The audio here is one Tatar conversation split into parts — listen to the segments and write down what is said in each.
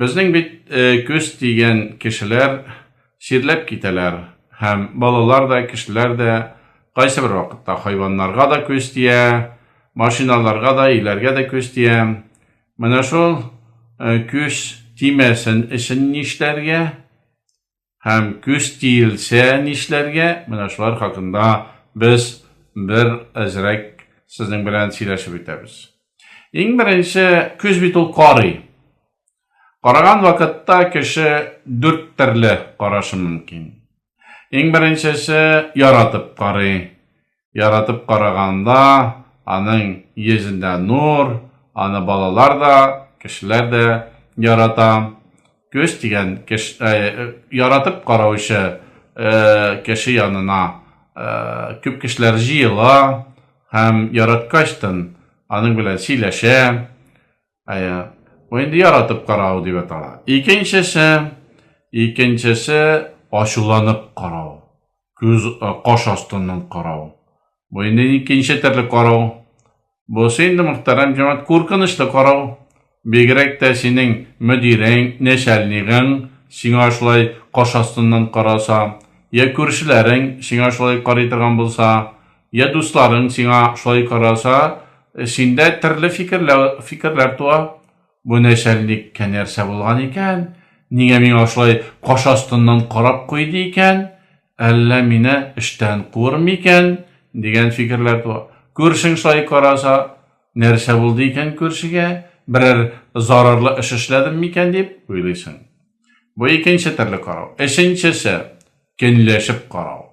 Безнең бит э, көз дигән кешеләр сирләп китәләр һәм балалар да, кешеләр дә кайсы бер вакытта хайваннарга да көз тия, машиналарга да, иләргә дә көз тия. Менә шул э, көз тимәсен өчен нишләргә? Һәм көч тиелсә нишләргә? Менә шулар хакында без бер әзрәк сезнең белән сөйләшеп үтәбез. Иң беренче көч бит ул карый. Караган вакытта кеше дүрт төрле карашы мөмкин. Иң беренчесе яратып карый. яратып караганда, аның йөзендә нур, аны балалар да, кешеләр дә ярата. Көз дигән кеш, ә, э, яратып караучы ә, кеше янына ә, күп кешеләр җыела һәм яраткачтын аның белән сөйләшә. Әйе. Бу инде яратып карау дип атала. Икенчесе, икенчесе ачуланып карау. Күз э, каш астыннан карау. Бу инде икенче төрле карау. Бу инде мөхтәрәм җәмәгать куркынычлы карау. Бигрәк тә синең мөдирең, нәшәлнигең сиңа шулай каш астыннан караса, я күршеләрең сиңа шулай карый торган булса, Я дусларың сиңа шулай караса, синдә төрле фикерләр, фикерләр туа. Бу нәшәлник кәнәрсә булган икән, нигә миңа шулай каш астыннан карап куйды икән, әллә мине эштән куыр микән, дигән фикерләр туа. Күршең шулай караса, нәрсә булды икән күршегә, берәр зарарлы эш эшләдем микән дип уйлыйсың. Бу икенче төрле карау. Өченчесе, көнләшеп карау.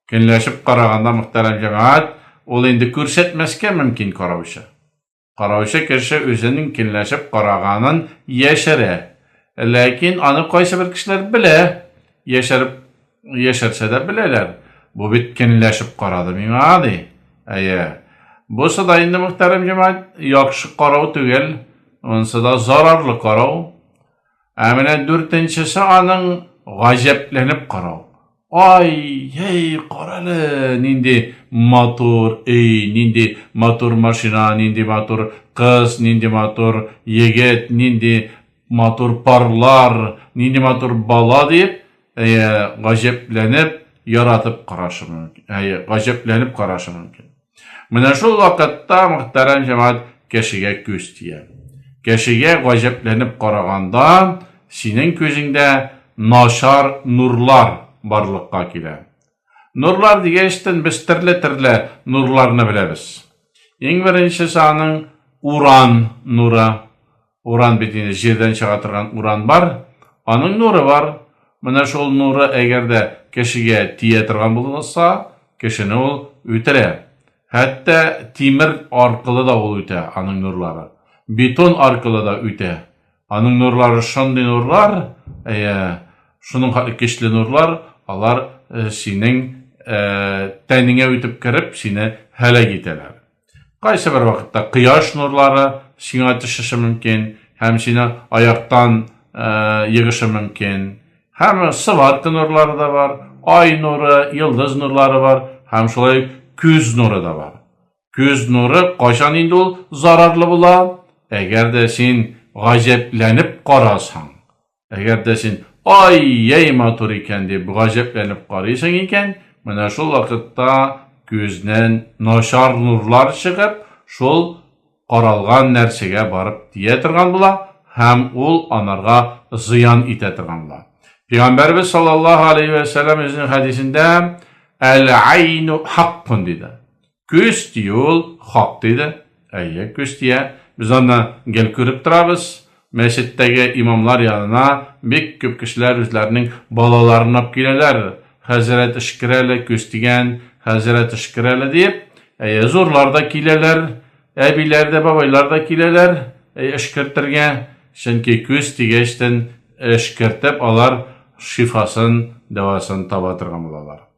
Көнләшеп караганда, мөхтәрәм җәмәгать, ул инде күрсәтмәскә мөмкин караучы. Караучы кеше үзенең көнләшеп караганын яшерә. Ләкин аны кайсыбер кешеләр белә, яшереп яшерсә дә беләләр. Бу бит көнләшеп карады миңа, ди. Әйе. Бусы да инде, мөхтәрәм җәмәгать, яхшы карау түгел, монысы да зарарлы карау. Ә менә дүртенчесе аның гаҗәпләнеп карау. Ай, ей, карале, нинди матур өй, нинди матур машина, нинди матур кыз, нинди матур егет, нинди матур парлар, нинди матур бала дип, әйе, гаҗәпләнеп, яратып карашы мөмкин. Әйе, гаҗәпләнеп карашы мөмкин. Менә шул вакытта мөхтәрәм җәмәгать кешегә күз тия. Кешегә гаҗәпләнеп караганда, синең күзеңдә начар нурлар барлыкка килә. Нурлар дигәчтен без төрле-төрле нурларны беләбез. Иң беренчесе аның уран нуры. Уран бит инде җирдән чыга торган уран бар, аның нуры бар. Менә шул нуры әгәр дә кешегә тия торган булса, кешене ул үтерә. Хәтта тимер аркылы да ул үтә, аның нурлары. Бетон аркылы да үтә. Аның нурлары шундый нурлар, әйе, шуның хәтле көчле нурлар, алар синең тәнеңә үтеп кереп, сине һәлак итәләр. Кайсы бер вакытта кояш нурлары сиңа төшеше мөмкин һәм сине аяктан егышы мөмкин. Һәм сыварка нурлары да бар, ай нуры, йолдыз нурлары бар һәм шулай күз нуры да бар. Күз нуры кайчан инде ул зарарлы була? Әгәр дә син гаҗәпләнеп карасаң, Әгәр дә син, ай, яй матур икән, дип гаҗәпләнеп карыйсың икән, менә шул вакытта күзнән начар нурлар чыгып, шул каралган нәрсәгә барып тия торган була һәм ул анарга зыян итә торган була. Пәйгамбәрбез саллаллаһу алейһи вә сәлләм үзенең хәдисендә әл-айну хаккун диде. Көз дию ул, хак диде. Әйе, көз дия. Без аны гел күреп торабыз. Мәчеттәге имамлар янына бик күп кешеләр үзләренең балаларын алып киләләр. Хәзрәт эшкерәле көз дигән, хәзрәт эшкерәле диеп. Әйе, зурлар да киләләр, әбиләр дә, бабайлар да киләләр эшкертергә. Чөнки көз дигәчтен эшкертеп алар шифасын, дәвасын таба торган булалар.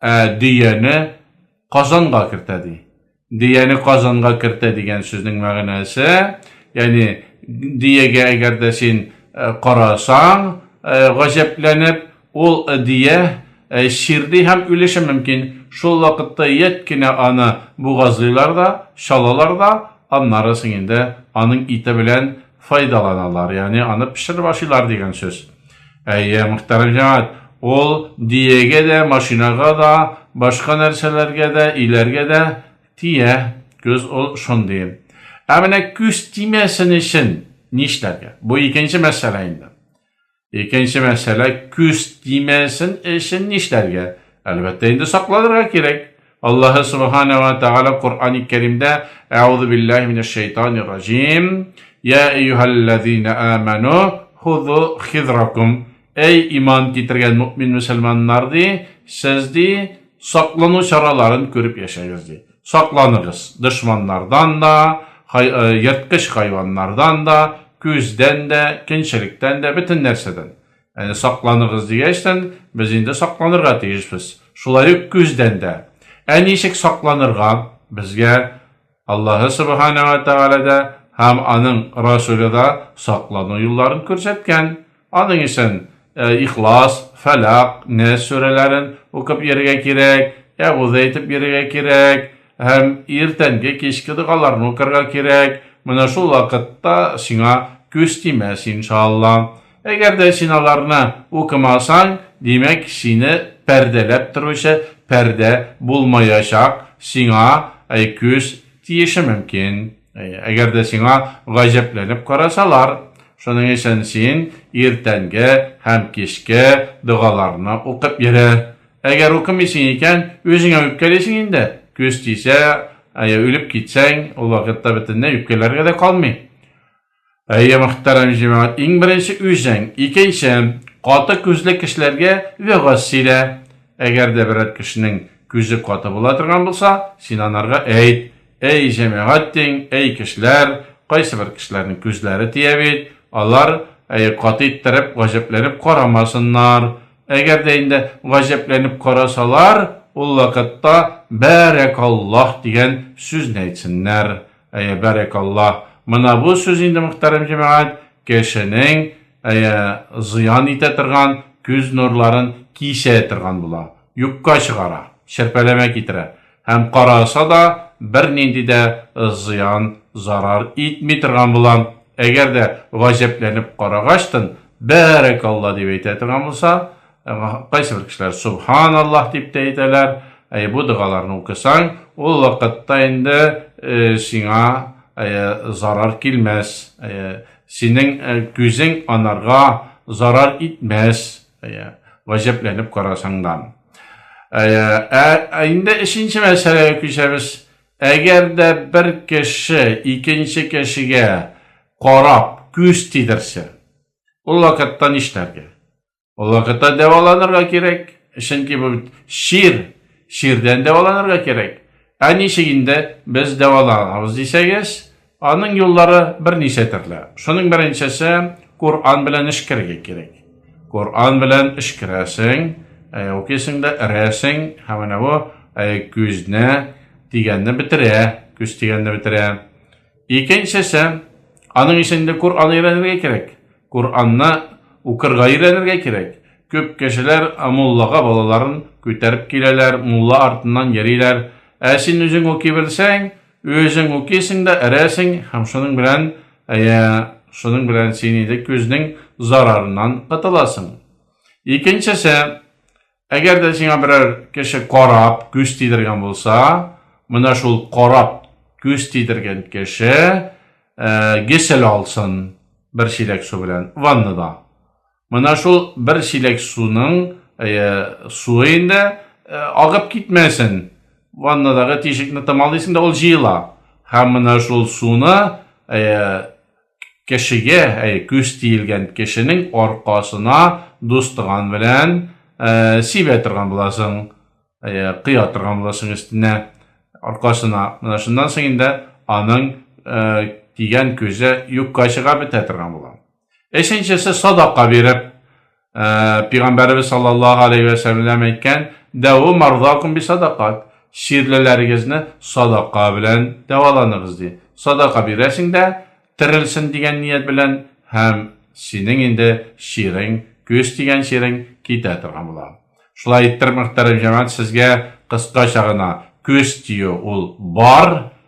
Ә дөяне Казанга кертә ди. Дөяне Казанга кертә дигән сүзнең мәгънәсе, ягъни дөягә әгәр дә син э, карасаң, э, гаҗәпләнеп, ул дөя э, чирди һәм үлеше мөмкин. Шул вакытта ят кенә аны бугазлыйлар да, чалалар да, аннары соң инде аның ите белән файдаланалар, ягъни аны пешереп ашыйлар дигән сүз. Әйе, мөхтәрәм җәмәгать, ул диегә дә, машинага да, башка нәрсәләргә дә, иләргә дә тия. Күз ул шундый. Ә менә күз тимәсен өчен нишләргә? Бу икенче мәсьәлә инде. Икенче мәсьәлә, күз тимәсен өчен нишләргә? Әлбәттә, инде сакланырга кирәк. Аллаһы Субхана ва Тәгалә Коръәни Кәримдә Әгъузу биллаһи минәш шәйтанир раҗим. Я әйюһәлләзина аману хузу хизракум. Әй иман китергән мөмин мөселманнар ди, сез ди саклану чараларын күреп яшәгез ди. Сакланыгыз дошманнардан да, ерткыч хайваннардан да, күздән дә, кенчелектән дә, бөтен нәрсәдән. Әне сакланыгыз дигәчтән, без инде сакланырга тиешбез. Шулай ук күздән дә. Ә ничек сакланырга? Безгә Аллаһы Субхана ва Тәгалә дә һәм аның Расуле да саклану юлларын күрсәткән. Аның өчен Ихлас, Фәлак, Нәс сүрәләрен укып йөрергә кирәк, әгуз әйтеп йөрергә кирәк һәм иртәнге кичке догаларны укырга кирәк. Менә шул вакытта сиңа күз тимәс, иншалла. Әгәр дә син аларны укымасаң, димәк, сине пәрдәләп торучы пәрдә булмаячак, сиңа күз тиеше мөмкин. Әгәр дә сиңа гаҗәпләнеп карасалар, шуның өчен син иртәнге һәм кичке догаларны укып йөрә. Әгәр укымыйсың икән, үзеңә үпкәлисең инде. Күз тисә, ә я үлеп китсәң, ул вакытта бөтенләй үпкәләргә дә калмый. Әйе, мөхтәрәм җәмәгать, иң беренче үзең, икенче, каты күзле кешеләргә вәгазь сөйлә. Әгәр дә берәр кешенең күзе каты була торган булса, син анарга әйт, әй җәмәгать диң, әй кешеләр, кайсы бер кешеләрнең күзләре тия бит, алар әй каты иттереп гаҗәпләнеп карамасыннар. Әгәр дә инде гаҗәпләнеп карасалар, ул вакытта бәрәкаллаһ дигән сүзне әйтсеннәр. Әйе, бәрәк Алла. Мына бу сүз инде мөхтәрәм җәмәгать, кешенең әйе зыян итә торган күз нурларын кисә торган була. Юкка чыгара, шерпәләмә китерә. Һәм караса да бернинди дә зыян, зарар итми торган була. Әгәр дә гаҗәпләнеп карагачтын, бәрәк Алла дип әйтә торган булса, Кайсы бер кешеләр субханаллаһ дип тә әйтәләр. Әй бу догаларны укысаң, ул вакытта инде э, сиңа э, зарар килмәс. Э, синең э, күзең анарга зарар итмәс. Э, Ваҗәпләнеп карасаңдан. Ә инде өченче мәсьәләгә күчәбез. Әгәр дә бер кеше икенче кешегә карап күз тидерсә, ул вакытта нишләргә? Ул вакытта дәваланырга кирәк, чөнки бу шир, ширдән дәваланырга кирәк. Ә ничек инде без дәваланабыз дисәгез, аның юллары берничә төрле. Шуның беренчесе Коран белән эш керергә кирәк. Коран белән эш керәсең, ә укисың да эрәсең, һәм менә бу күзне дигәнне бетерә, күз дигәнне бетерә. Икенчесе, аның өчен дә Коръан өйрәнергә кирәк. Коръанны укырга өйрәнергә кирәк. Күп кешеләр муллага балаларын күтәреп киләләр, мулла артыннан йөриләр. Ә син үзең укый белсәң, үзең укыйсың да эрәсең һәм шуның белән, әйе, шуның белән син инде күзнең зарарыннан котыласың. Икенчесе, Әгәр дә сиңа берәр кеше карап, күз тидергән булса, менә шул карап, күз тидергән кеше э, гесел алсын бер чиләк су белән ваннада. Менә шул бер чиләк суның э, суы инде э, агып китмәсен. Ваннадагы тишекне томалыйсың да ул җыела. Һәм менә шул суны Кешегә, әй, күз тиелгән кешенең аркасына дустыган белән сибә торган буласың, кыя торган буласың өстенә, аркасына. Менә шуннан соң инде аның тигән күзе юкка чыга бетә торган була. Өченчесе садака биреп, Ә, Пигамбәребез саллаллаһу алейхи ва сәлләм әйткән, "Дәву марзакум би садакат". Чирлеләрегезне садака белән дәваланыгыз ди. Садака бирәсең дә, терелсен дигән ният белән һәм синең инде чирең, күз тигән чирең китә торган була. Шулай иттереп, мөхтәрәм җәмәгать, сезгә кыскача гына күз тию ул бар,